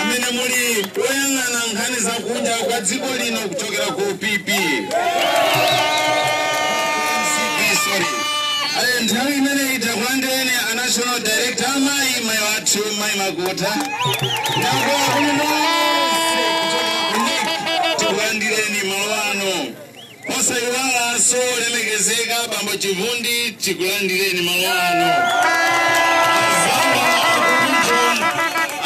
amene muli woyang'ana nkhani za kunja kwa dziko lino kuchokera ku PP MCP, sorry. Eh, nthawi imeneyi takulandirani a national director amayi mayi athu mayi makuta ndakwakuno Posayiwalanso olemekezeka bambo Chivundi tikulandireni malo ano. Azanga akukujon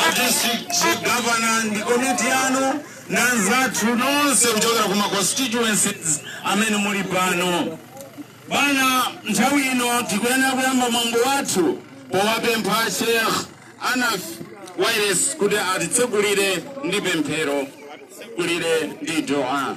a district governor ndi komiti yanu na anzathu nonse kuchokera ku ma constituencies amene muli pano. Bwana nthawi ino tikuyenera kuyamba mwambo wathu powapempha Sheikh Anaf Wayeres kuti atitsogolere ndi pemphero golere ndi dua.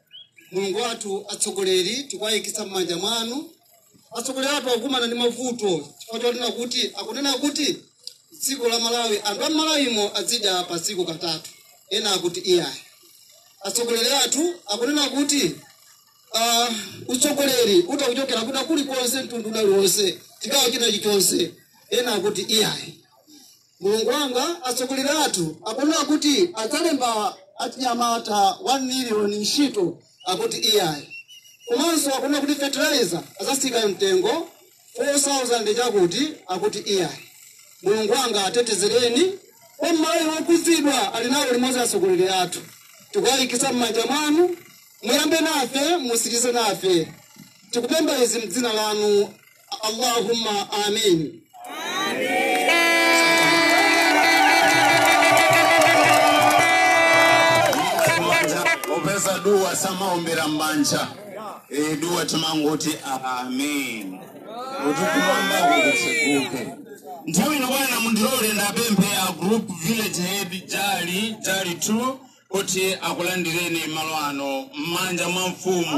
mulungu wathu atsogoleri tikuwayikiza m'manja mwanu atsogoleri athu akukumana ndi mavuto chifukwa chonena kuti akunena kuti dziko la malawi anthu a malawimo azidya pa tsiku katatu ena akuti iyayi atsogoleri athu akunena kuti ah, utsogoleri utha kuchokera kwina kulikonse mtundu uliwonse chigawo china chilichonse ena akuti iyayi mulungu wanga atsogoleri athu akunena kuti adzalemba achinyamata 1 miliyoni ntchito akuti iyayi komanso akunena kuti fertilizer azatsitsa mtengo 4000 chakuti akuti iyayi mulungu wanga atetezereni kwa mmaliwongo kuti muzikhala nawo limodzi atsogoleri athu tikuwayikiza m'manja mwanu muyambe nafe mutsirize nafe tikupempha izi mdzina lanu Allahumma amin. Popeza dua samaombera mmanja e, dua timangoti amin kuti kumwamba kukatseguke nthawi ino bwana mundilole ndiwapemphe a group village head jali jali 2 kuti akulandireni malo ano m'manja mwa mfumu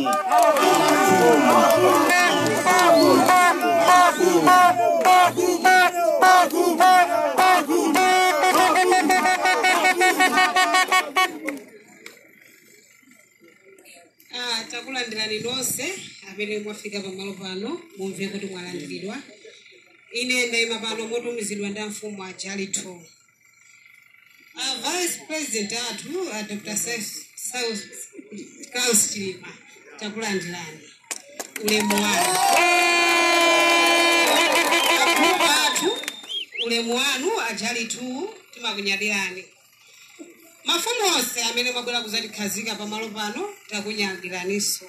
Ah, takulandirani nonse amene mwafika pamalo pano mumve kuti mwalandiridwa ine ndayima pano motumizidwa ndi amfumu a jali 2 a vice president athu a dr klaus chilima takulandirani ulemu wanu akulu athu ulemu wanu a jali 2 timakunyadirani mafumu onse amene mwabwera kuzatikhazika pamalo pano takunyadiraniso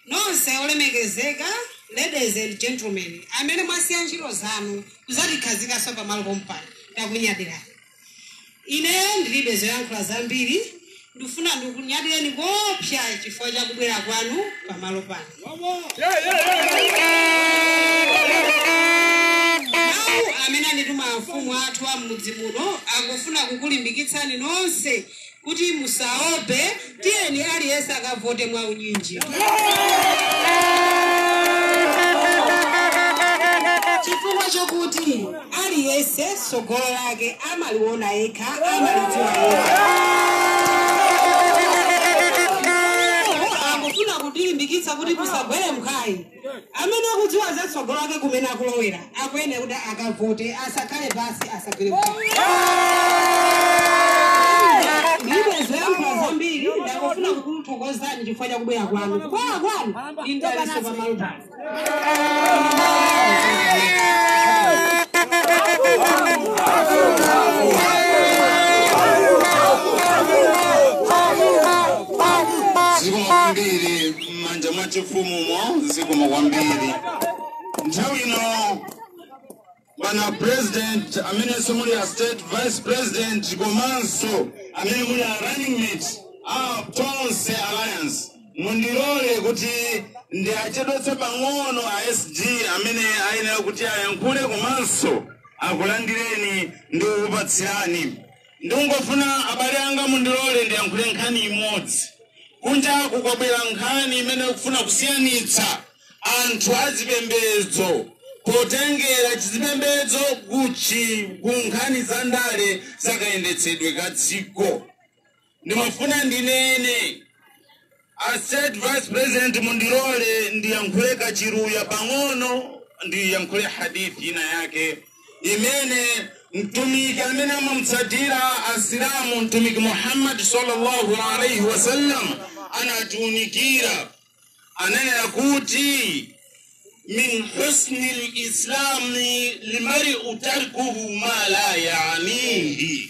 Nonse olemekezeka ladies and gentlemen amene mwasiya ntchito zanu kudzatikhazikanso pamalo pompano takunyadirani. Ineyo ndilibe zoyankhula zambiri ndifuna ndikunyadireni koopsa chifukwa cha kubwera kwanu pamalo pano. Mawu amene andituma amfumu athu a m'mudzi muno akufuna kukulimbikitsani nonse kuti musaope tiyeni aliyense akavote mwa unyinji chifukwa chokuti aliyense tsogolo lake amaliona yekha amalidziwa yekha angofuna kutilimbikitsa kuti musagwe mphwayi Amene akudziwa za tsogolo lake kumene akulowera akuyenera kuti akavote, asakhale pansi, asagwe mphwayi. Ndilibe zoyankhula zambiri, ndangofuna kukuthokozani chifukwa cha kubwera kwanu. Kubwera kwanu ndi mdalitso pa malo pano. Zikomo kwambiri m'manja mwa chifumu zikomo kwambiri nthawi ino bwana president amenenso muli a state vice president komanso amene muli a running mate a tonse alliance mundilole kuti ndiachedwetse pang'ono a sg amene ayenera kuti ayankhule komanso akulandireni ndi kukupatsirani Ndikungofuna abale anga mundilole ndiyankhule nkhani imodzi. Kunjaku kwabwera nkhani imene ikufuna kusiyanitsa anthu a zipembedzo potengera chizipembedzo kuchi ku nkhani za ndale za kayendetsedwe ka dziko. Ndimafuna ndinene A state vice president mundilole ndiyankhule kachiluwa pang'ono ndiyankhule hadith ina yake imene mtumiki amene amamutsatira asilamu mtumiki muhammad sallallahu alaihi wasallam anatiunikira ananena kuti min husni islamil mar'i tarkuhu ma la yanihi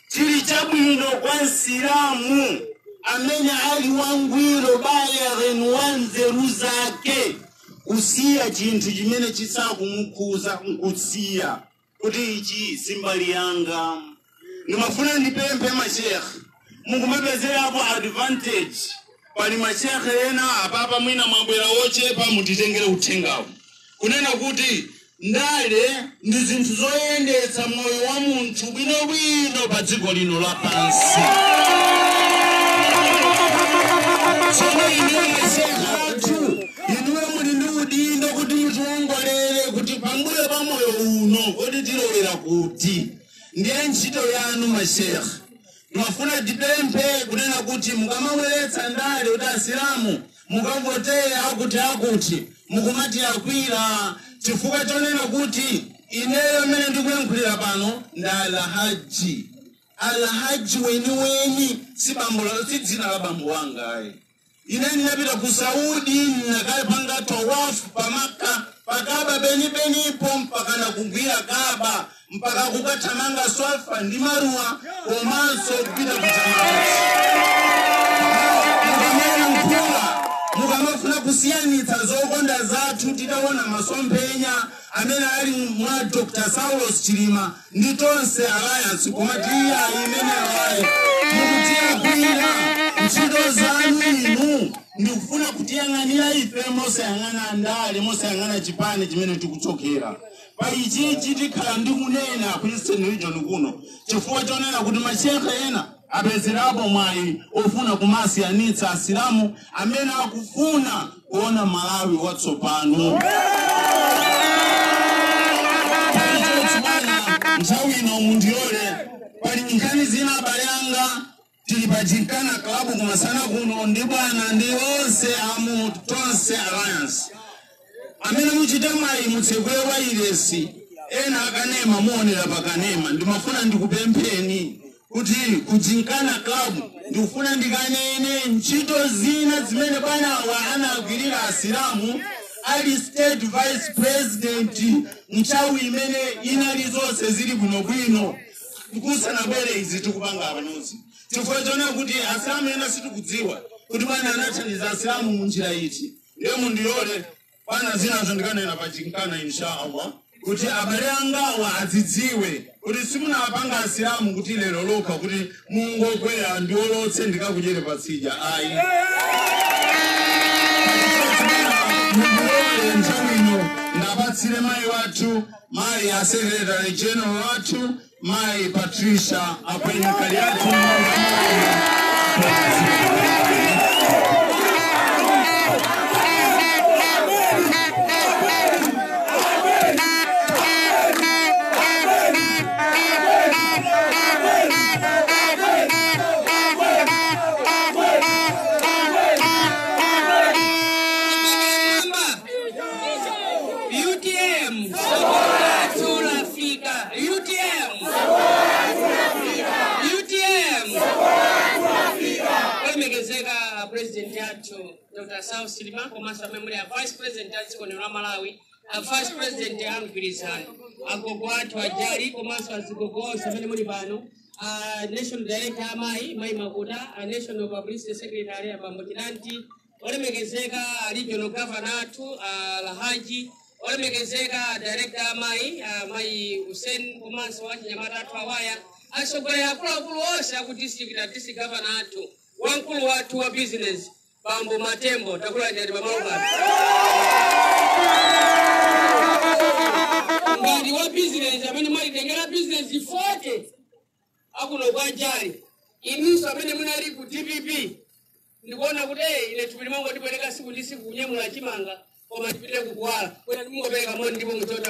chili chabwino kwa msilamu amene ali wangwiro balighin wa nzeru zake kusiya chinthu chimene chisakumukhuza nkusiya kuti ichi si mbali yanga ndimafuna ndipemphe mashekhe mukumapezerapo advantage pali mashekhe ena apapa mwina mwabwera wochepa mutitengere uthengawu kunena kuti ndale ndi zinthu zoyendetsa moyo wa munthu bwinobwino pa dziko lino lapansi. Tsono inuyo mashehe athu, inuyo muli ndi udindo kuti mutiwongolere kuti pambuyo pa moyo uno kodi tilowera kuti. Ndiye ntchito yanu mashehe. Timafuna tipemphe kunena kuti mukamabweretsa ndale kuti asilamu mukavotere akuti akuti mukumatilakwira chifukwa chonena kuti ineyo amene ndikuyankhulira pano ndine alhaji alhaji weniweni si bambo la- si dzina la bambo wanga ayi ine ndinapita ku saudi ndinakapanga tawafu pa Maka pa Kaba penipenipo mpaka nakuigwira Kaba mpaka kukathamanga swafa ndi marwa komanso kupita kutamauti mukamayankhula mukamafuna kusiyanitsa zokonda zathu titaona masomphenya amene ali mwa dr saulos chilima ndi tonse alliance koma tiya imene ayi mukutilakwira ntchito zanu inu ndi kufuna kutiyang'anira ife mosayang'ana ndale mosayang'ana chipani chimene tikuchokera Pa ichichi tikhala tikunena ku Eastern Region kuno chifukwa chonena kuti mashehe ena apezerapo mwayi ofuna kumasiyanitsa Asilamu amene akufuna kuona Malawi watsopano. Choncho chibwana, nthawi ino mundilole pali nkhani zina abale anga Tili pa Gymkhana Club kumasana kuno ndi bwana ndi onse amu Tonse Alliance. Amene muchite mwayi mutsegule wailesi yakanema muonera pa kanema ndimafuna ndikupempheni kuti ku Gymkhana Club ndikufuna ndikanene ntchito zina zimene bwanawa anagwirira asilamu ali state vice president nthawi imene inali zonse zili bwinobwino kusanabwere izi tikupanga panozi chifukwa chonena kuti asilamu ena sitikudziwa kuti bwana anathandiza asilamu mu njira iti ndiye mundilole bwana zinazo ndikanena pa Gymkhana insha allah kuti abale angawa azidziwe kuti simunafune asilamu kuti lero lokha kuti mungoti ndiolotse ndikakudyere patsidya ayi mundilole nthawi ino ndipatsire mayi wathu mali ya Secretary General wathu Mayi Patricia Akwenya Kaliati utm tsogolo lathu lafika utm utm olemekezeka a president athu dr saulos chilima komanso amene muli a vice president a dziko lino la malawi a vice president a mgwirizano agogo athu ajali komanso atsogoleri onse amene muli pano a national director amayi mayi makuta a national publicity secretary abambo chidanti olemekezeka regional governor athu alhaji olemekezeka director amayi amayi hussein komanso achinyamata athu awa atsogoleri akuluakulu onse aku district a district governor athu wamkulu wathu wa business bambo matembo takulandirani pano ngati wa business amene mwalitengera business 40 akuno kwa njali inunso amene munali ku dpp ndikuona kuti eh, ine thupi limangofika pereka siku ndi siku kunyamula chimanga koma tipite kukuwala kuti mungopereka moni ndipo muchota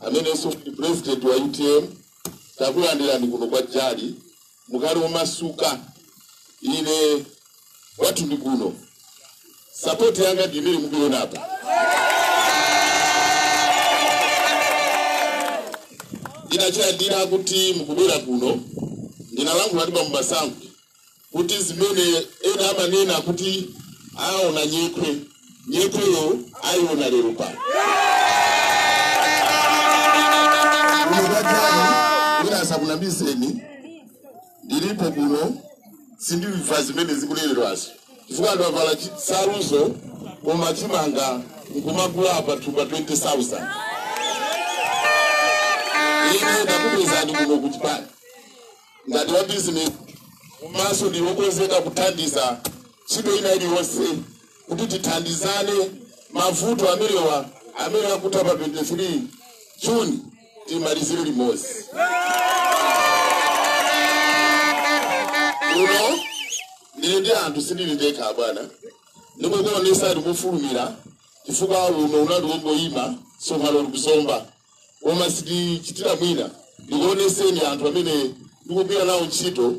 amenenso ndi president wa utm takulandirani kuno kwa jali mukhale omasuka ine kwathu ndi kuno sapoti yanga ndi imene mukuiona apa ndinachilandira kuti mukubwera kuno ndinalankhula ndi bambo masankho kuti zimene ena amanena kuti aona nyekhwe nyekhweyo ayiona lero pano unokatani wina asakunamizeni ndilipo kuno ndikumva zimene zikunenedwazo chifukwa anthu avala chisanzo koma chimanga nkumagula pa thumba 20000 ine ndakupezani kuno kuchipani ngati wa bizinesi komanso ndili wokonzeka kuthandiza ntchito ina iliyonse kuti tithandizane mavuto amenewa amene akutha pa 23 juni timalizire limodzi kuno ndili ndi anthu sindili ndekha abwana ndikukuonesa ndikufulumira chifukwa uno unali wongoyima tsopano ndi ku zomba koma sitichitira mwina ndikuoneseni anthu amene ndikugwira nawo ntchito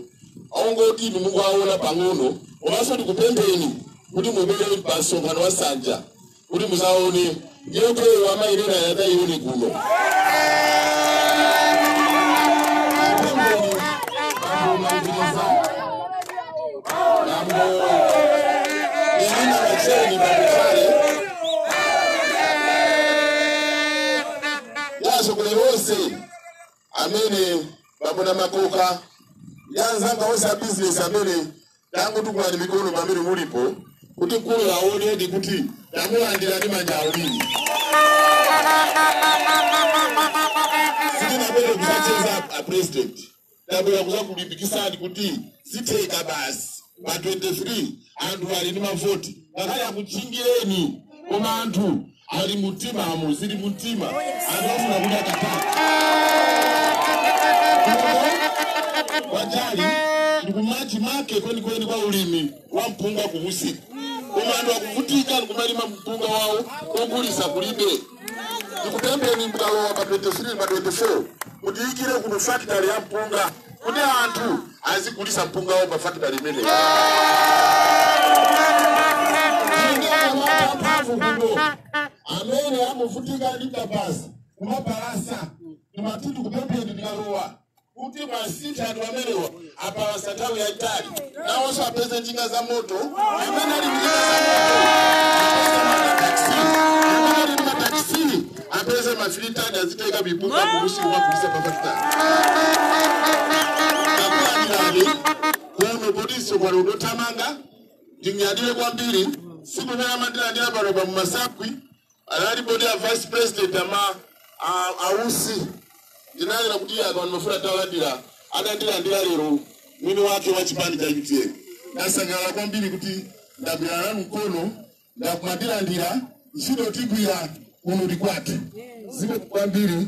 mungoti inu muwaone pang'ono komanso ndikupempheni kuti mubwere pa msonkhano wa nsanja kuti muzaone nyekhweyo amaineneyo adzaione kuno yasokole wose amene bambo makoka anzanga onse a business amene tangotukulani mikono pamene mulipo kuti mkuluyo aonedi kuti tawalandira ndi manja awiri sitinapele kusacheza a president ndabwera kuzakulimbikisani kuti zitheka basi pa 23 anthu ali ndi mavoti ngakhale akutchingireni koma anthu ali mumtima amo zili mumtima anthu afuna kuti akatatu kwa jali ndi kumachimake kwenikweni kwa ulimi wa mpunga kumusiko koma anthu akuvutika ndikumalima mpunga wawo ogulisa kulibe ndikupempheni mukalowa pa 23 pa 24 mutiikire kuno fakitali ya mpunga kuti anthu azigulisa mpunga wawo pa fakitali imeneyi mphamvu kuno amene amavutika ndi kabaza kumapalasa ndimati tikupempheni mukalowa kuti muwasinthe anthu amenewa apalasa nthawi yayitali nawonso apeze njinga za moto amene ali njinga za moto ali mataxi apeze ma three ton azitenga mpunga kumusi kumagulisa pa fakitali akulandilani kuno potinso pano ndothamanga ndinyadire kwambiri siku naye amandilandira pano pa mumasakwi analipo ndi a vice president ama a- a usi ndinanena kuti anthu andimafuna talandira adandilandira lero mwini wake wa chipani cha utm ndasangalala kwambiri kuti ndagwira nanu mkono ndakumandilandira ntchito tigwira kuno ndi kwathu zikomo kwambiri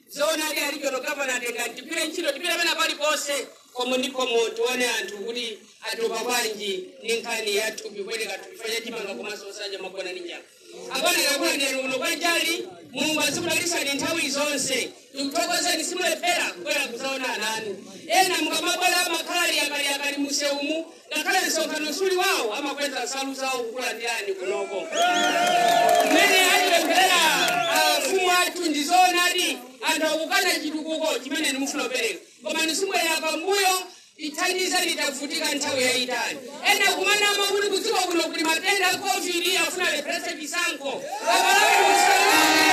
zoonadi a regional governor atenga tigwire ntchito tipite pena paliponse khomo ndi khomo tione anthu kuti atopa bwanji ndi nkhani ya thupi kupereka thupi fanya chimanga komanso osadya kumagona ndi njala abale yakula ndani kuno kwa jali mulungu azikudalisani nthawi zonse tikuthokozeni simulephera kubwera kuzaona ana anu ena mukamabwera amakhala ali yakaliyakali mumseumu Ngakhale msonkhano suli wawo amakweza nsalu zawo kukulandirani kunoko. Mmene atipempherera afumu athu ndi zoonadi anthu akukana chitukuko chimene inu mufuna kupereka. Koma musabwerere pambuyo tithandizeni tavutika nthawi yayitali. Ena kumanama kuti kudziko kuno kuli matenda a Covid afuna alepheretse chisankho. Abale musalole.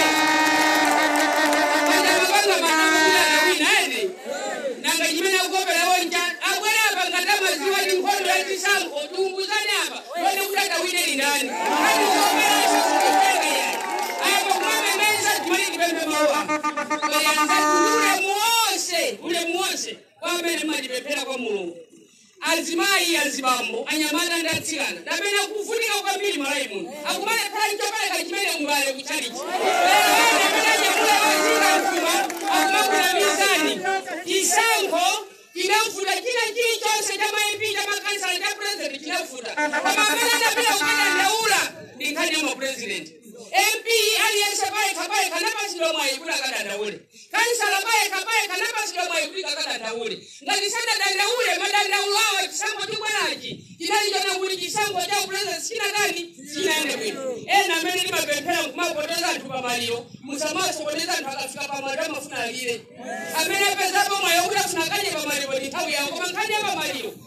nanga chimene akuoperawo nchani abwere apa ngati amaziwa ndi nkhondo ya chisankho tiunguzane apa tione kuti atawine ndi ndani ngati ukoperaso kutenge yani apa kumamemeza timene tipemphe mawa kweyanza ulemu wonse ulemu wonse kwa amene mmatipemphera kwa mulungu Azimayi, azibambo, anyamata ndi atsikana ndi amene akuvutika kwambiri m'Malawi muno. Akumalephera n'chopereka chimene m'mbale ku tchalitchi. Lero ena amene anyamula ozinga mfuma akumakunamizani. Chisankho chinavuta, china chilichonse cha ma MP, cha makhansala, cha president chinavuta. Koma amene anapita kukadandaula ndi nkhani ya mapurezidenti. MP aliyense payekha payekha anapatsidwa mwayi kuti akadandaule. kansala payekha payekha anapatsidwa mwayi kuti akadandaule ngati sadadandaule madandaulo awo chisankho chibwerachi chinali chona kuti chisankho cha upresident chinatani chinayende bwino ena amene timapemphera nkumatonthoza anthu pamaliro musamasokoneza anthu akafika pamaliro amafuna alire amene apezapo mwayi kuti afuna akadye pamaliro ndi nthawi yawo koma nkhani ya pamaliro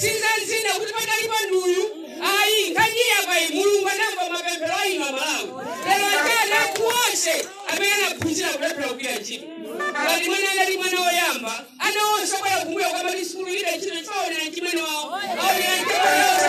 si za mnzina kuti pakati pa nduyu ayi nkhani yake apa ayi mulungu anamva mapemphero a inu amalawi lero atana kuonse amene anaphunzira kulephera kugwira ntchito ngati mwana anali mwana woyamba ana onse abwera kumbuyo kwamati sikulu ilibe ntchito chifukwa choonera chimene wawo aonera ntchito yonse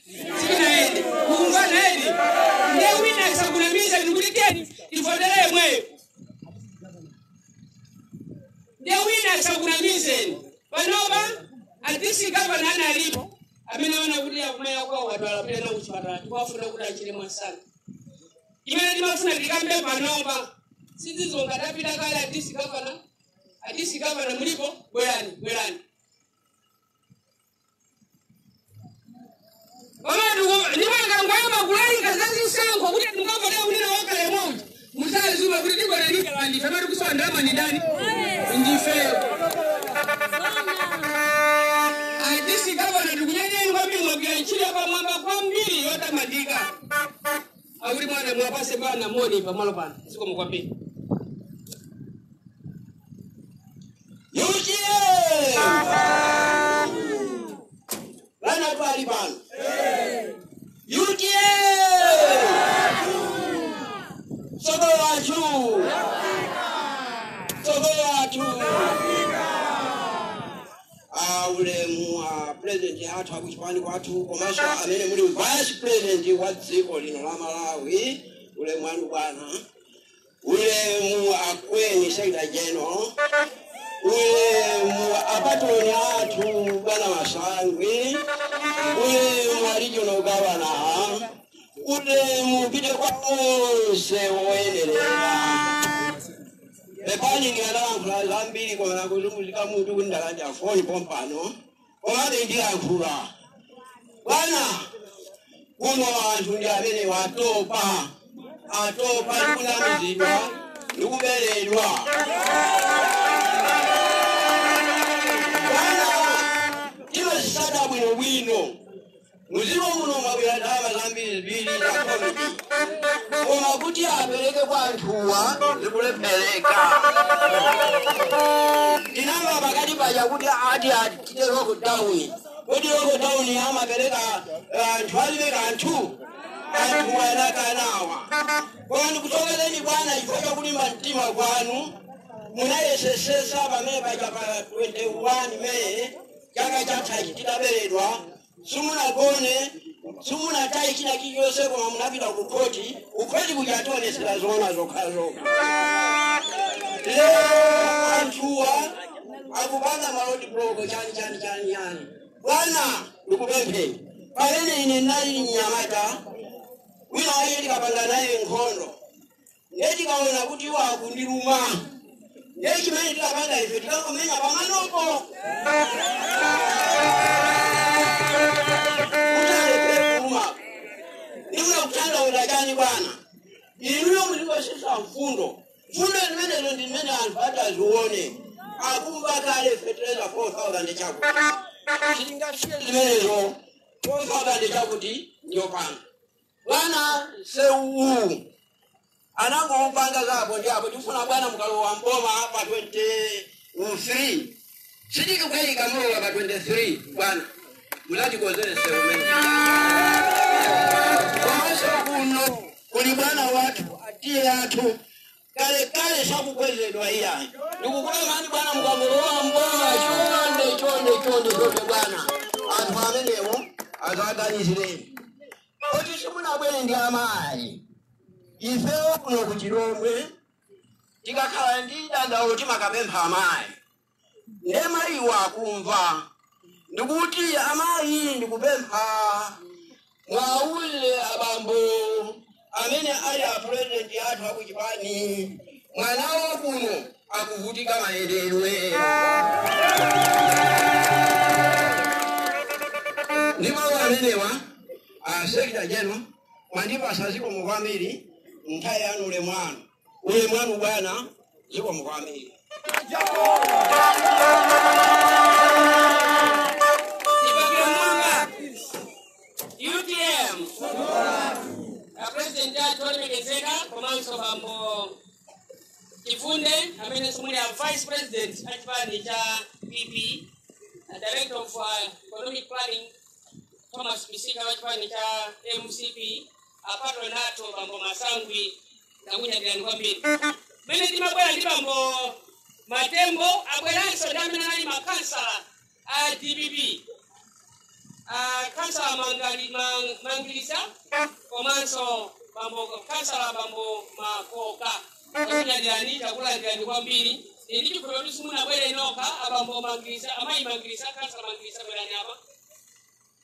sitinayende mukumvana eni nde wina asakunamiza kuti teni tivotera yemweyo nde wina asakunamizeni panopa adisi gavana analipo amene akuona kuti akumva kuwawa akudwala pena kuchipatala tikuwafuna kuti achire mwasanga imene timafuna tikambe panopa si zija zonga tapita kale adisi gavana adisi gavana mulipo bwerani bwerani ndimakangoyamba kulalika zazisankho kuti ndimukavotea kunena wakale momo musaziwa kuti tikonanidala ndife amati kusowa ndalama ni ndani ndifeyo adisi gavana tikuthokozeni kwambiri mwagwira ntchito yapamwamba kwambiri yotamandika akuti bwana mupatse bwana moni pamalo pano zikomo kwambiri UTM! Bwana tili pano. UTM! Tsogolo lathu. Tsogolo lathu. Ah, ulemu wa president athu akuchipani kwathu komanso amene muli vice president wa dziko lino la malawi ulemu wanu bwana ulemu a Queen shaida jeno ulemu apatoni athu bwana wasangwi ulemu alijono gavana ulemu upite kwa onse oyenerera pepani ndikanalankhula zambiri koma ndikuzunguzika mutu kuti ndalandira foni pompano komabe ndilankhula bwana kuno anthu ndi amene atopa atopa ndikunamizidwa ndikuberedwa pano tikuzisaka bwinobwino Mdziko muno mwabwera ndalama zambirimbiri za Covid koma kuti apereke kwa anthuwa zikulephereka. Tinamva pakati paja kuti ati atite lokodauni kodi lokodauni amapereka eh, anthu alibe kanthu anthuwa anakana wakandikuthokozeni bwana chifukwa chakulimba mtima kwanu munayesesesa pamene paja pa 21 meyi chaka chathachi tidaberedwa simunagone simunataye china chilichonse koma munapita ku khoti kukhoti kuja kudzationetsera zoona zokhazokha lero anthuwa akupanga malodi bloko chani chani chani chani bwana ndikupempheni pamene ine ndinali mnyamata wina waye ndikapanga naye nkhondo ndiye ndikaona kuti iwo akundiluma ndiye chimene tikapanga ife tikangomenya pamanopo kuti alephere kuluma ndikuyesa kutanthauza chani bwana inuyo mulikutsitsa mfundo mfundo zimenezo ndi zimene anthu ati azione akuba kale fetereza 4000 chakuti sitingasiye zimenezo 4000 chakuti ndiyo pano bwana msewu uwu anangoupanga za pondi apo tifuna bwana mukalowa mboma pa 23 sitikukayika mulowa pa 23 bwana mudzatikonzere msewu umene komanso kuno kuli bwana wathu atiye athu kalekale sakukwezedwa iyayi ndikupempheni bwana mukangolowa mboma chonde chonde chonde chonde bwana anthu amenewo mudzawaganizire kuti simunabwere ndi amayi ifewo kuno kuchilhomwe tikakhala ndi dandaulo timakapempha amayi nde mayiwo akumva ndikuti amayi ndikupempha muwauze abambo amene ali a president athu akuchipani mwana wawo kuno akuvutika mayendedwe ndi mawu amenewa a secretary general mwandipatsa zikomo kwambiri nthawi yanu ulemu wanu ulemu wanu bwana zikomo kwambiri Ibabira mwanga. UTM. A president athu olemekezeka komanso bambo Chifunde a Mizi amene ali a vice president a chipani cha PP a director of uh, economic planning Thomas Misika wa chipani cha MCP apa tonato bambo masangwi ndakunyadilani kwambiri mmene timabwera ndi bambo matembo abweranso amene anali makhansala a dpp Ah, khansala Mangali- Man- mangilisa komanso bambo khansala bambo makoka ndakunyadilani ndakulandirani kwambiri ndi chikhulupiriro kuti simunabwere nokha abambo mangilisa amayi mangilisa khansala mangilisa bwerani apa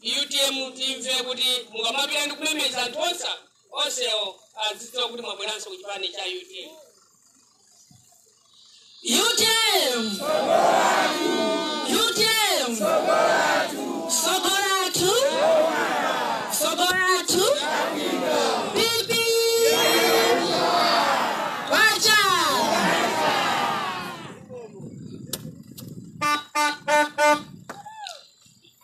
utm timve kuti mukamapita ndi kumemeza anthu onse onsewo adziwe kuti mwabweranso ku chipani cha utm utm utm sokolatu sokolatu bibi wacha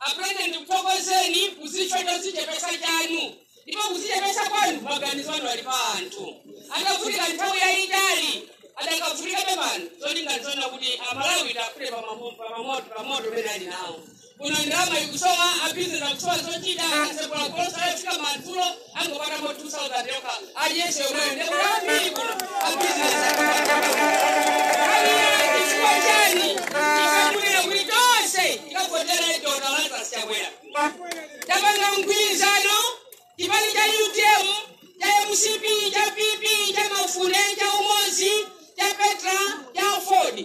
a president ndikuthokozeni chifukwa chodzichepetsa chanu ndipo kudzichepetsa kwanu maganizo anu ali pa anthu adavutika nthawi yayitali akadavutikabe pano zolinga n'zonena kuti amalawi aphule pamoto umene alinawo kuno ndalama ikusowa abizinesi akusowa zochita asekula golosa yafika madzulo angopatamo 2000 yokha aliyense yomweyo ndi abale ambiri kuno abizinesi aliyense chifukwa chani ifunika kuti tonse tikavotere dokotala lazarus chakwera tapanga mgwirizano chipani cha utm cha mcp cha pp cha mafunde cha umodzi cha petra cha aford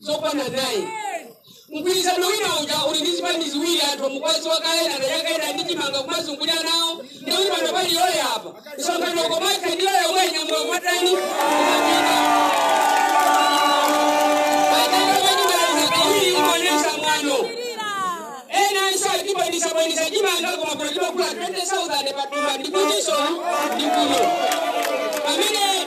zokwana naini mgwirizano wina uja uli ndi zipani ziwiri anthu mukuwadziwa kale anayamba kuyenda ndi chimanga kumazungulira nawo ndikuti pano pali yoyo apa msonkhano komatha ndi yoyo omwe nyamula kumatani kumapita kawiri umaonesa mwano ena anso akubanitsabanitsa chimanga koma kuna chimagula 20000 patumba ndikutinso ndikuno pamene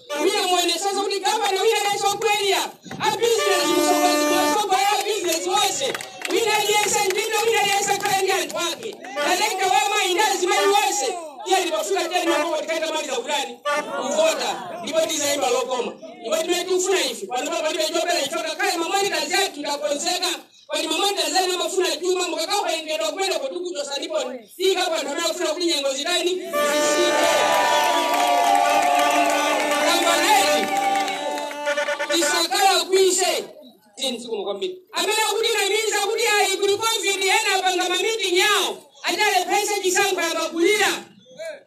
Mwina muonetsetsa kuti gavana wina aliyense wa Premier a business mtsogozi mtsogozi a business wonse wina aliyense ndine wina aliyense akhale ndi anthu ake kaleka wamwa ine azimayi wonse iye ndipo pofika tena mambo tikatha kumaliza kutani kuvota ndipo tizaimba lokoma ndipo timene tikufuna ife panopa palibe chopera ife kalekale mamwani kazi yathu ndakonzeka pali madoda ena amafuna chuma mukakawerengedwa kumene tikuchotsanipo sika kwa anthu amene akufuna kuti mitengo zitani zitsike kambaneti tisakala kwise tinzikuma kwambiri amene akutinamiza kuti ayi kuli covid ena apanga mamitingi yawo adzalepheretse chisankho yamakulira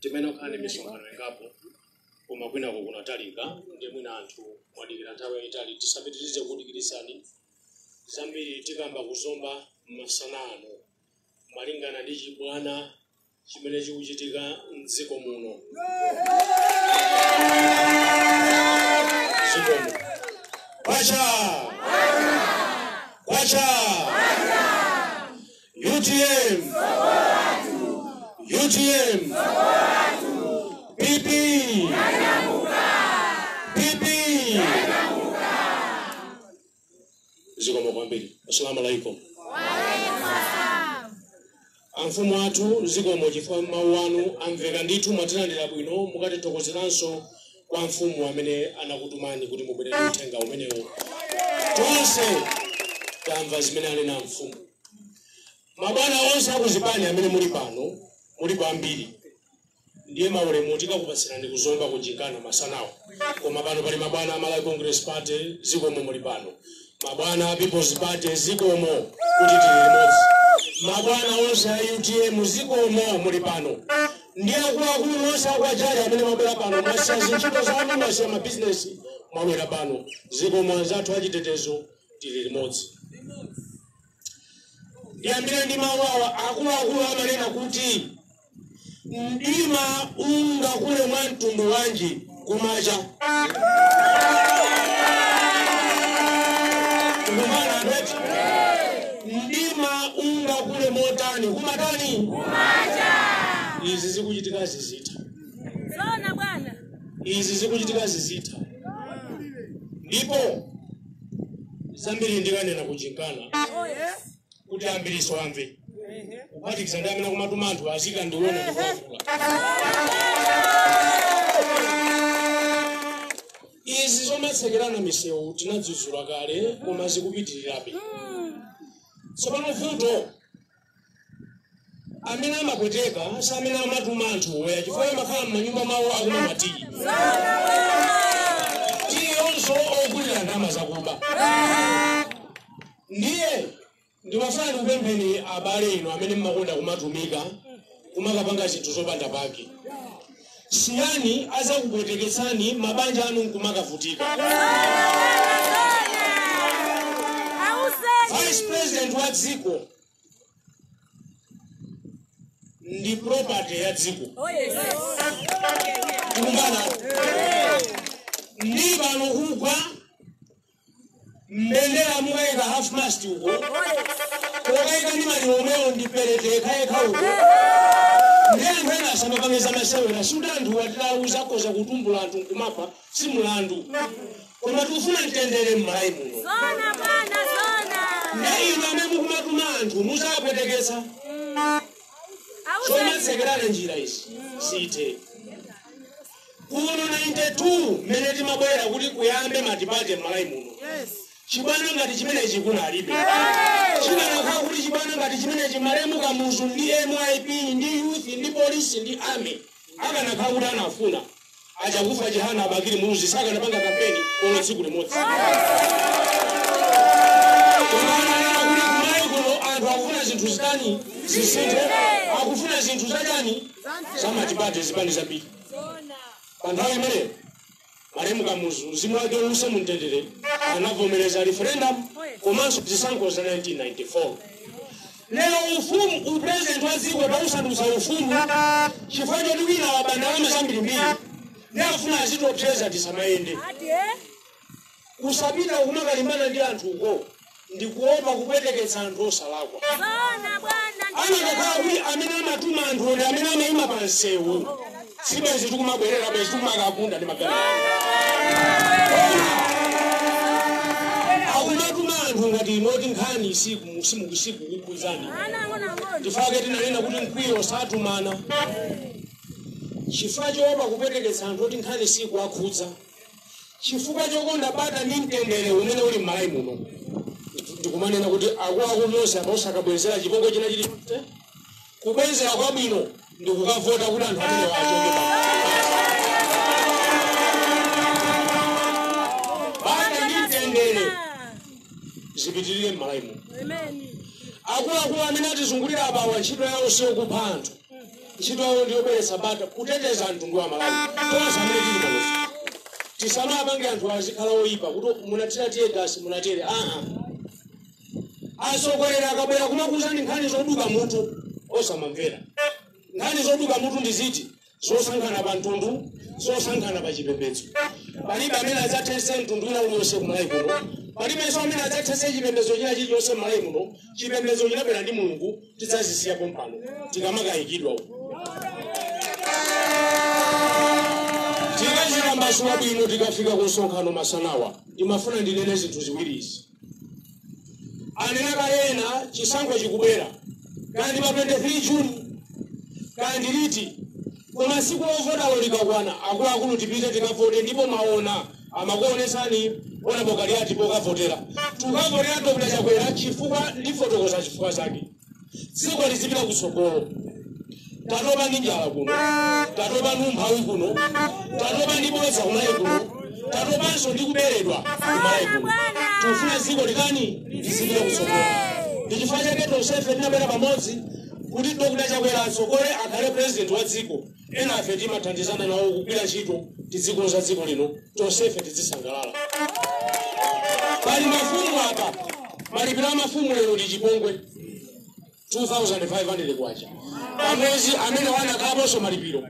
timene tikhala ndi misonkhano ingapo koma kwinako kunatalika ndiye mwina anthu mwadikira nthawi yayitali tisapitirize kudikiritsani zambiri tikamba ku Zomba masana ano malingana ndi chibwana chimene chikuchitika mdziko muno mdziko muno kwacha kwacha UTM. UTM. PP. PP. Zikomo kwambiri. Assalamu alaikum. amfumu athu zikomo chifukwa mawu anu amveka ndithu mwatilandira bwino mukatithokozeranso kwa mfumu amene anakutumani kuti mubwere ndi uthenga umenewo tonse tamva zimene anena mfumu mabwana onse a kuzipani amene muli pano muli kwambiri ndiye maulemu tikakupatsirani ku Zomba ku msonkhano masanawo koma pano pali mabwana a malawi congress party zikomo muli pano mabwana a peoples party zikomo kuti tili limodzi mabwana onse a utm zikomo muli pano ndi akuluakulu onse a kwa Jali amene mwabwera pano mwasiya zintchito zanu mwasiya mabizinesi mwabwera pano zikomo anzathu achitetezo tili limodzi ndiyambire ndi mawu awa akuluakulu amanena kuti Mdima ungakule mwa mtundu wanji kumacha? Amanena kuti mdima ungakule motani kumatani? Izi zikuchitika zidzatha, Zoona bwana. izi zikuchitika zidzatha, ndipo zambiri ndikanena ku msonkhano Oh yes. kuti ambiriso amve kuphatikiza ndi amene kumatuma anthu azika ndi ena ndikuwauza izi zomatsekerana misewu tinadzudzula kale koma zikupitirirabe tsopano vuto amene amapweteka si amene amatuma anthu ayi chifukwa amakhala m'manyumba mawo akumwa matiyi tiyinso ogulira ndalama zakuba ndiye ndimafuna ndikupempheni abale inu amene mmakonda kumatumika kumakapanga zinthu zopanda pake siyani azakupweteketsani mabanja anu nkumakavutika vice president wa dziko ndi property ya dziko kumbana ndi pano kugwa mbendera mukaika half mast uko kokaika ndi maliro omwewo ndi perete yekayekha uko ndiye anthu ena asamapangitsa masewera sikuti anthu anatiuza kodza kutumbula anthu nkumapha si mulandu koma tikufuna mtendere m'Malawi muno Zona bwana zona. nde inu amene mukumatuma anthu muzawapwetekesa Auze zomatsekerana njira izi zithe kuno 92 mmene timabwera kuti kuyambe matipate m'Malawi muno chibwana ngati chimenechi kunalibe chinalaka kuti chibwana ngati chimenechi malemu kamuzu ndi MYP ndi youth ndi polisi ndi army akanatha kuti anafuna A Chakufwa Chihana a Bakili Muluzi sakanapanga kampeni olo tsiku limodzi. Koma amanena kuti ku Malawi kuno anthu akufuna zinthu zitani zisinthe, akufuna zinthu zachani zamatipate zipani zambiri. Pa nthawi imeneyo malemu Kamuzu mzimu wake uuse mumtendere anavomereza referendum komanso zisankho za 1994. Lero ufumu, u president wa dziko akuusandutsa ufumu chifukwa choti wina waba ndalama zambirimbiri nde afuna azitiopseza tisamayende kusapita kumakalimbana ndi anthu uko ndi kuopa kupweteketsa anthu osalakwa akanakhala kuti amene amatuma anthu ndi amene amaima pa msewu sibwezi tikumabwerera bwezi tikumakagunda ndi magalimoto akumatuma anthu ngati inu oti nkhani siku simuku sikukukhuzani n'chifukwa chake tinanena kuti mkwiyo satumana chifukwa choopa kupweteketsa anthu oti nkhani sikuwakhudza chifukwa chokonda bata ndi mtendere umene uli m'Malawi muno ndikumanena kuti akuakulu nonse apa osakabwezera chipongwe china chilichonse Kubwezera kwabwino ndi kukavota kuti anthu amenewa achokepo bata ndi mtendere zipitirire m'malawi muno. Akuluakulu amene atizungulira abawa ntchito yawo siyokupha anthu, ntchito yawo ndi yobweretsa bata, kuteteza mtundu wa aMalawi. Tonse amene tili panofe tisamapange anthu azikhala oyipa kuti munatira tiye gasi munatere aa atsogoleri akabwera kumakuuzani nkhani zoduka mutu osamamvera nkhani zoduka mutu ndi ziti zosankhana pa mtundu zosankhana pa chipembedzo palibe amene adzathese mtundu wina uliyonse ku Malawi kuno palibenso amene adzathese chipembedzo china chilichonse m'Malawi muno chipembedzo chinabwera ndi mulungu tidzazisiya pompano tikamakayikidwa uko tikazitambasula bwino tikafika ku msonkhano masanawa ndimafuna ndinene zinthu ziwiri izi anena kale ena chisankho chikubwera kaya ndi pa 23 juni kaya ndi liti koma siku lovotalo likakwana akuluakulu tipite tikavote ndipo maona amakuonetsani ona pokhala yatu pokavotera tukavotera dr chakwera chifukwa ndifotokoza chifukwa chake dziko lizipita kutsogolo tatopa ndi njala kuno tatopa ndi umphawi kuno tatopa ndi bodza kumalayi kuno tatopanso ndi kuberedwa kumalayi kuno tikufuna dziko lino lizipita kutsogolo ndi chifukwa chake tonsefe tinabwera pamodzi kuti dokota chakwera atsogole akhale president wa dziko enafe timathandizana nawo kugwira ntchito tizikonza dziko lino tonsefe tizisangalala pali mafumu apa malipiro a mafumu lero ndi chipongwe 2500 kwacha pamwezi amene wanakaponso malipiro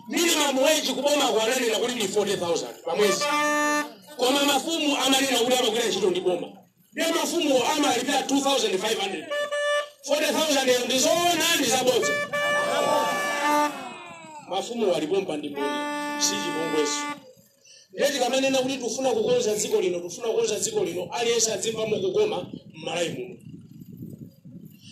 minimum wage kubomako ananena kuti ndi 40000 pamwezi koma mafumu amanena kuti amagwira ntchito ndi boma ndiye mafumuwo amalipira 2500 40000 yo ndizoona ndi zabodza mafumuwo alipompa ndi mboni si chipongwecho ndiye tikamanena kuti tifuna kukonza dziko lino tifuna kukonza dziko lino aliyense azimvamo kukoma m'malayi muno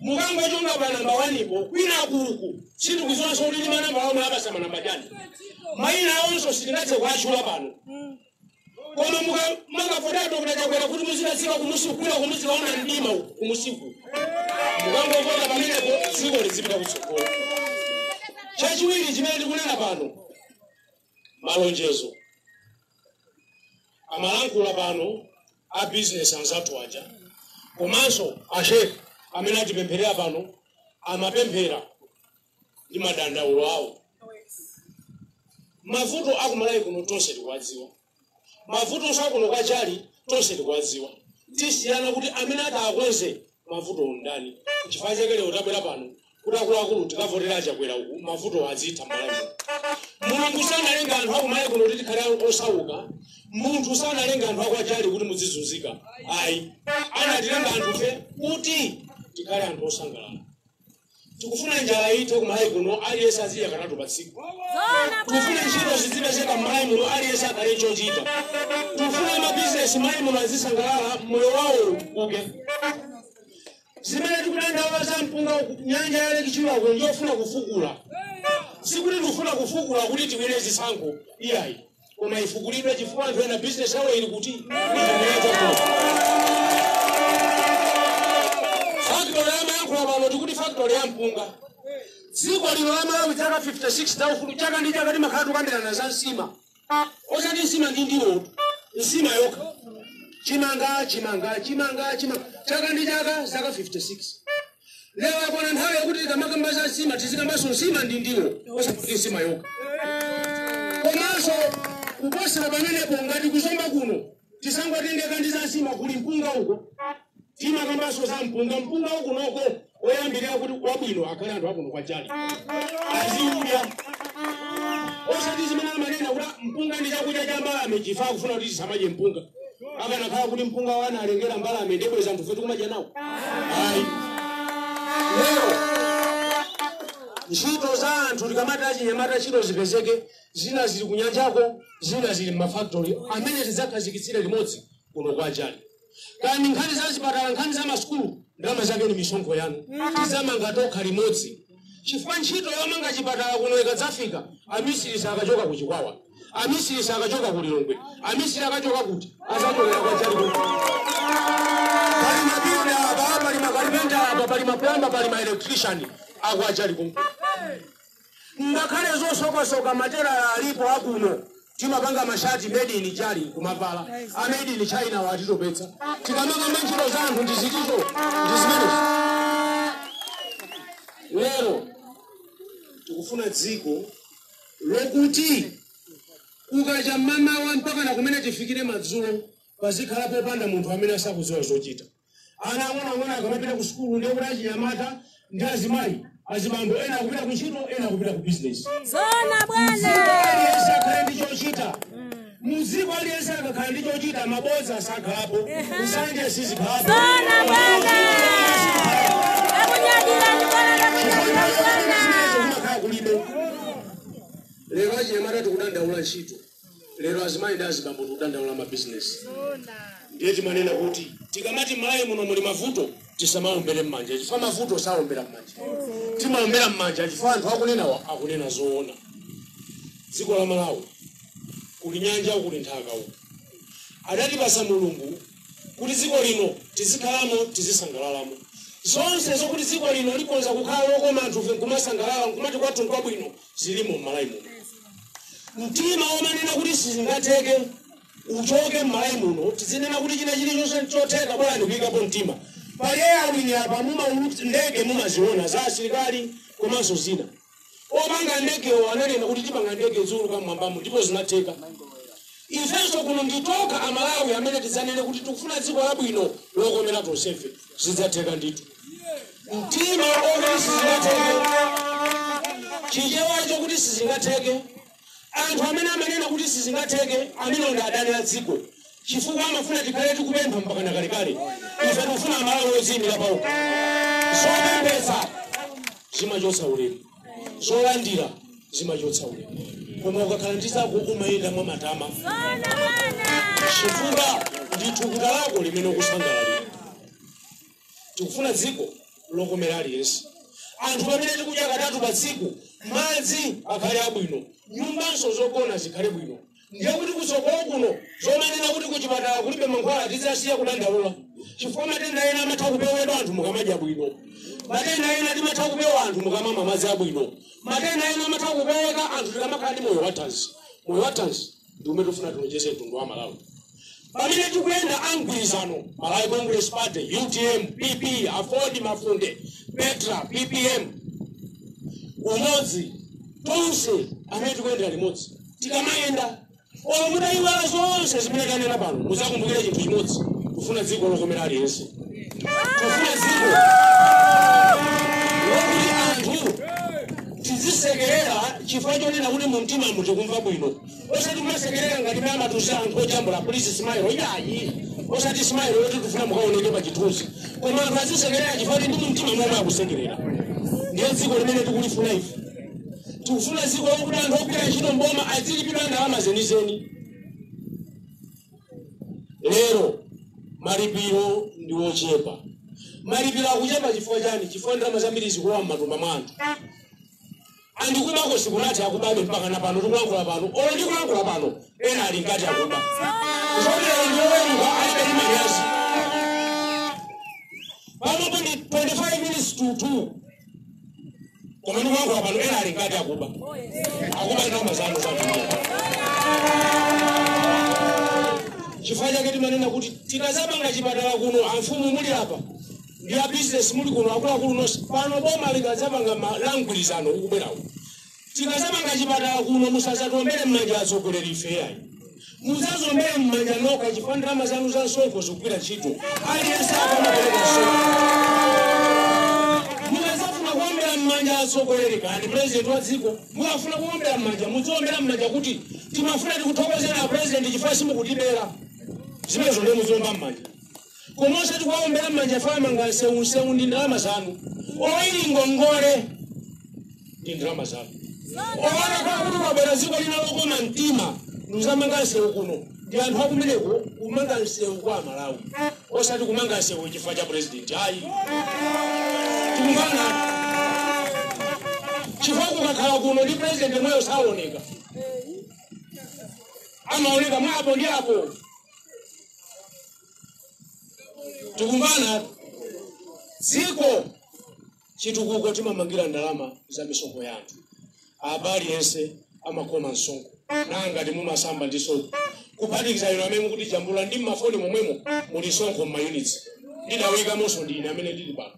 mukangochonga pa nambala wanipo kwinakuku sindikudziwanso kuti ndi manamba omwe akasa manambala chani mayina awonso sitingathe kuwatchula pano koma muka- mukafuna dokota chakwera kuti muzidasiwa kumusikwira kumuziwaona mdima uku kumusiku mukangopota pamenepo dziko lizipita kutsogolo chachiwiri chimene tikunena pano malonjezo amayankhula pano a business anzathu aja komanso a sheikh amene atipempherera pano amapemphera ndi madandaulo awo mavuto akumalayi kuno tonse tikuwadziwa mavuto akuno kwa jali tonse tikuwadziwa tisiyana kuti amene atakonze mavuto ndani chifukwa chake lero tabwera pano kuti akuluakulu tikavotera a chakwera uku mavuto azitha malawi mulungu sanalenga anthu akumalawi kuno kuti tikhale osauka munthu sanalenga anthu a kwa jali kuti muzizunzika ayi anatilenga anthufe kuti tikhale anthu osangalala tikufuna njala ithe kumalayi kuno aliyense azidya katatu pa tsiku tikufuna ntchito zizipezeka mmalayi muno aliyense akhale chochita tikufuna mabizinesi mmalayi muno azisangalala moyo wawo utukuke zimene tikudandaula za mpunga wa ku- nyanja ya lake chilwako ndiyofuna kufukula sikuti tikufuna kufukula kuti tiwine zisankho iyayi koma itukulidwe chifukwa anthu ena bizinesi yawo ili kuti factory yamayankhula pano tikuti factory ya mpunga dziko lino la malawi zaka 56 za ufulu chaka ndi chaka timakhala tukambirana za nsima osati nsima ndi ndiwo nsima yokha chimanga chimanga chimanga chimanga chaka ndi chaka zaka 56 lero yakwana nthawi yokuti tikamakamba za nsima tizikambanso nsima ndi ndiwo osakuti nsima yokha komanso kuposera pamenepo ngati ku zomba kuno tisangotengeka ndi za nsima kuli mpunga uko timakambanso za mpunga mpunga wakunoko oyambirira kuti wabwino akhale anthu akuno kwa jali aziudya osati zimene amanena kuti mpunga ndi chakudya cha mbalame chifukwa akufuna kuti tisamadye mpunga akanakhala kuti mpunga analengera mbalame sibwenzi anthufe tikumadya nawo ayi lero ntchito za anthu tikamati achinyamata ntchito zipezeke zina zili kunyanjako zina zili mmafaktori amene tidzakhazikitsire limodzi kuno kwa jali kani nkhani za zipatala nkhani za masukulu ndalama zake ni misonkho yanu tidzamanga tokha limodzi chifukwa ntchito yomanga chipatala kuno ikadzafika amisiri sakachoka ku chikwawa amisiri sakachoka ku lilongwe amisiri akachoka kuti azachokera kwa jali kuno pali mabilida apa pali makalipenta apa pali maplamba pali maelectrician a kwa jali kuno ngakhale zosokasoka matera alipo akuno timapanga mashati made in jali kumavala a made in china watitopetsa tikamakamba ntchito za anthu ndizitizo ndizimenezo lero tikufuna dziko lokuti kukacha mmamawa mpaka na kumene tifikire madzulo pazikhala popanda munthu amene asakudziwa zochita ana ang'onoang'ono akamapita ku sukulu ndiye kuti achinyamata ndi azimayi azibambo ena akupita ku ntchito ena akupita ku bizinesi zoona bwana aliyense akhale ndi chochita mdziko aliyense akakhala ndi chochita mabodza sakhalapo nsanje sizikhalapo kumakhala kulibe lero achinyamata tikudandaula ntchito lero azimayi ndi azibambo tikudandaula mabizinesi ndiye timanena kuti tikamati mmalawi muno muli mavuto tisamaombere mmanja chifukwa mavuto saombera mmanja timaombera mmanja chifukwa anthu akunenawa akunena zoona dziko la malawi kuli nyanja kuli nthaka uku adatipasa mulungu kuti dziko lino tizikhalamo tizisangalalamo zonse zokuti dziko lino likhoza kukhala lokoma anthufe nkumasangalala nkumati kwathu nkwabwino zilimo m'malawi muno mtima womanena kuti sizingatheke uchoke m'malawi muno tizinena kuti china chilichonse nchotheka bola ndikuyikapo mtima pali air wing apa mumaulutsa ndege mumaziona za asilikali komanso zina Opanga ndegewo ananena kuti tipanga ndege ziuluka mmwambamo ndipo zinatheka. Ifenso kuno n'zotheka Amalawi amene tidzanene kuti tikufuna dziko labwino lokomera tonsefe. Zidzatheka ndithu. Mtima woti sizingatheke, chichewa chakuti sizingatheke. Anthu amene amanena kuti sizingatheke, amenewo ndi adani a dziko chifukwa amafuna tikhale tikupempha mpakana kalekale. Ife tikufuna Amalawi odziimira paokha. Zopemphetsa zimachotsa ulemu, zolandira zimachotsa ulemu, koma ukakhala ndi zako umayenda mwa matama chifukwa ndi thukuta lako limene ukusangalalira. tikufuna dziko lokomera aliyense anthu pamene tikudya katatu pa tsiku madzi akhale abwino nyumbanso zogona zikhale bwino ndiye kuti kutsogoloku zomanena kuti kuchipatala kulibe mankhwala tidzasiya kudandaula chifukwa matenda ena amatha kupewedwa anthu mukamadya bwino matenda ena amatha kupeweka anthu mukamamwa madzi abwino matenda ena amatha kupeweka anthu tikamakhala ndi moyo wathanzi moyo wathanzi ndi umene tikufuna tilonjeze mtundu wa malawi pamene tikuyenda a mgwirizano malawi congress party utm pp aford mafunde petra ppm umodzi tonse amene tikuyendera limodzi tikamayenda olo mutayiwala zonse zimene tanena pano muzakumbukire chinthu chimodzi tikufuna dziko lokomera aliyense tikufuna dziko tizisekerera chifukwa chonena kuti mumtimamu tikumva bwino osati kumasekerera ngati mmene amatiuza anthu ojambula kuti simailo iyayi osati simailo yoti tikufuna mukaoneke pa chithunzi koma anthu azisekerera chifukwa kuti ndi mu mtima momwe akusekerera ndiye dziko limene tikulifuna ife tikufuna dziko lokuti anthu ogwira ntchito mboma azilipidwa ndalama zenizeni lero malipiro ndi ochepa malipiro akuchepa chifukwa chani chifukwa ndalama zambiri zikulowa m'matumba mwa anthu ndipo kubako sikunathe akubabe mpaka na pano tikulankhula pano olo ndikulankhula pano ena ali mkati akuba zotero ndi loweruka alibe ndi manyazi panopo ndi 25 minutes to 2 koma ndikulankhula pano ena ali mkati akuba akuba ndalama zanu zambiri chifukwa chake timanena kuti tikazamanga chipatala kuno amfumu muli apa ndi a business muli kuno akuluakulu nonse pano boma likazamanga boma la mgwirizano ukubwerawo Tikazamanga chipatala kuno musazatiombere mmanja atsogoleri ife yayi. Muzaziombere mmanja nokha chifukwa ndalama zanu za msonkho zikugwira ntchito. Aliyense amapereka msonkho. Mukazafuna kuombera mmanja atsogoleri kani president wa dziko mukafuna kuombera mmanja muziombera mmanja kuti timafuna tikuthokozera president chifukwa simukutibera. Zimenezo ndiye muziomba mmanja. koma osati kuwaombera m'manja ife amanga nsewu nsewu ndi ndalama zanu oili ngongole ndi ndalama zanu kuona kuti kwabwera dziko lina lokoma mtima ndikuzamanga nsewu kuno ndi anthu akumeneko kumanga nsewu kwa amalawi osati kumanga nsewu chifukwa cha purezidenti ayi tikumvana chifukwa kukakhala kuno ndi purezidenti mwiniyo saoneka amaoneka mwapo ndi apo tikumvana dziko chitukuko timamangira ndalama za misonkho ya anthu apa aliyense amakhoma msonkho nanga ngati mumasamba ndi sopo kuphatikiza inu amene mukutijambula ndi mmafoni momwemo muli msonkho mmayunitsi ndidaikamonso ndi ine amene ndili pano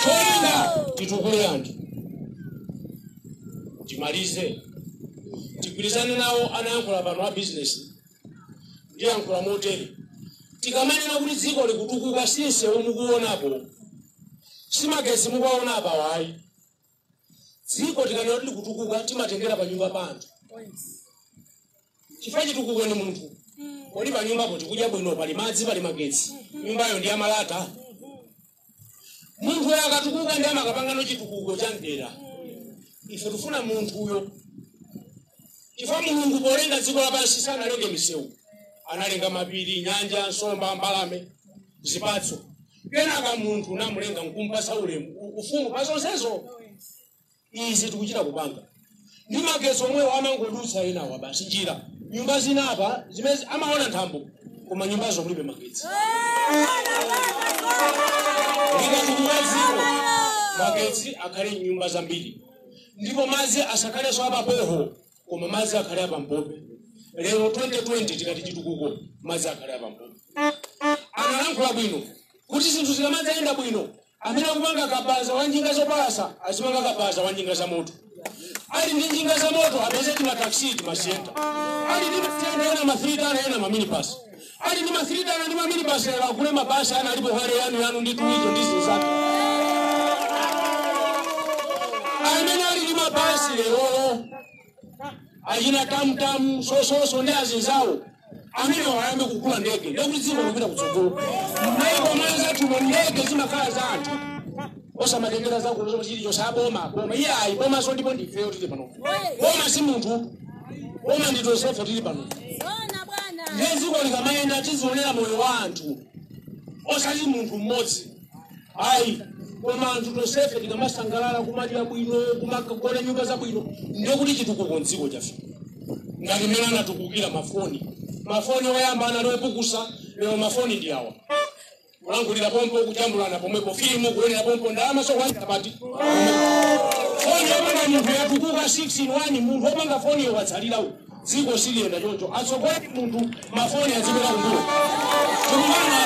choyenda titukule anthu timalize tigwirizane nawo anayankhula pano a bizinesi ndiyankhule motere tikamanena kuti dziko likutukuka si nsewu mukuonapo si magetsi mukuwaona apa ayi dziko tikanena kuti likutukuka timatengera pa nyumba pa anthu chifukwa chitukuko ni munthu kodi pa nyumbapo tikudya bwino pali madzi pali magetsi nyumbayo ndi yamalata munthuyo akatukuka ndi amakapangano chitukuko cha mdera ife tifuna munthuyo chifukwa mulungu polenga dziko lapansi sanalenge misewu analenga mapiri nyanja nsomba mbalame zipatso kenaka munthu n'kumulenga nkumpasa ulemu u- ufumu pa zonsezo izi tikuchita kupanga ndi magetsi omwewo amangodutsa enawa m'mbali njira nyumba zina apa zimezi amaona nthambo koma nyumbazo kulibe magetsi likatukuka dziko magetsi akhale mnyumba zambiri ndipo madzi asakhalenso apamjigo koma madzi akhale apampope lero 2020 tikati chitukuko madzi akhale apampope analankhula bwino kuti zinthu zikamadzayenda bwino amene akupanga kabaza wa njinga zopalasa azipanga kabaza wa njinga za moto ali ndi njinga za moto apeze timataxi timasienta ali ndi masienta ena mafreed ana ena maminibasi Ali ndi masilidano ndi maminibasi lero agule mabasi ana alipo hale yanu yanu ndi tuwizo ndi zinzake amene ali ndi mabasi lero achina tamtamu sososo ndi azinzawo amenewa ayambe kugula ndege ndekuti dziko likupita kutsogolo maiko mwanzathumo ndege zimakhala za anthu osamatengera zakuno zomwe chili chonse cha boma boma iyayi bomanso ndipo ndifeyo tili pano boma si munthu Boma ndi tonsefe tili pano. Bwana bwana. Ndiye dziko likamayenda tizionera moyo wa anthu osati munthu mmodzi. Ayi, koma anthu tonsefe tikamasangalala kumadya bwino, kumakagona nyumba zabwino, ndiye kuti chitukuko m'dziko chafika. Ngati mmene anatukukila mafoni. Mafoni oyamba anali opukusa, lero mafoni ndi awa. kulankhulira pompo kujambulana pomwepo filimu kuonera pompo ndalama sokwanira apa foni yopanga munthu yatukuka 6 in 1 munthu wopanga foni yotsalira uyu dziko siliyenda choncho atsogoleri munthu mafoni azipita kumbuyo tikumana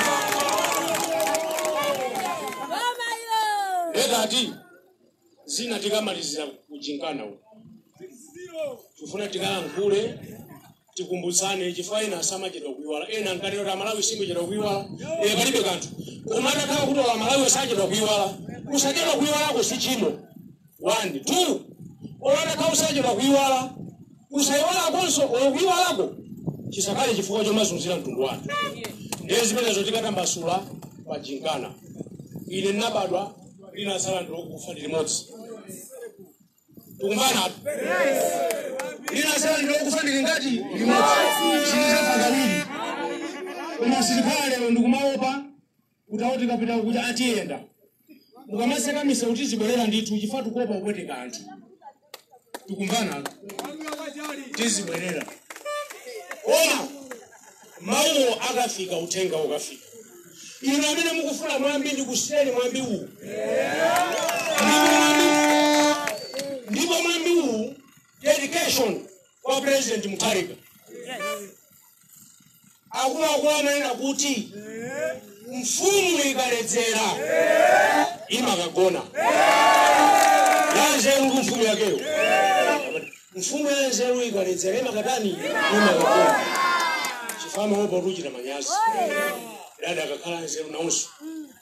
Mama yo. ekati zina tikamalizire kuchinkana uku tifuna tikalankhule tikumbutsane chifukwa ena asamachedwa kuiwala ena ankanena kuti amalawi sikuchedwa kuiwala e palibe kanthu koma atakhala kuti amalawi sachedwa kuiwala kusachedwa kuiwalako si tchimo one two ola atakhala usachedwa kuiwala kusaiwalakonso ola kuiwalako chisakhale chifukwa chomazunzira mtundu wanu ndiye zimenezo tikatambasula pachinkana ine ndinabadwa lina asala tsiku lokufa ndi limodzi tikumvana apo lina asala tsiku lokufa ndi lingati limodzi silichita kawiri koma silikhala lero ndikumaopa kuti awo tikapita kuti atiyenda mukamatseka misewu tizibwerera ndithu chifukwa tikuopa kupweteka anthu tikumvana tizibwerera koma mawuwo akafika uthenga ukafika inu amene mukufuna mwambi ndikusiyireni mwambi uwu ndipo mwambi uwu dedication kwa president mutharika akuluakulu amanena kuti mfumu ikaledzera imakagona yanzeru mfumu yakeyo mfumu yanzeru ikaledzera imakatani imakagona chifukwa imaopa kuchita manyazi dada akakhala anzeru nawonso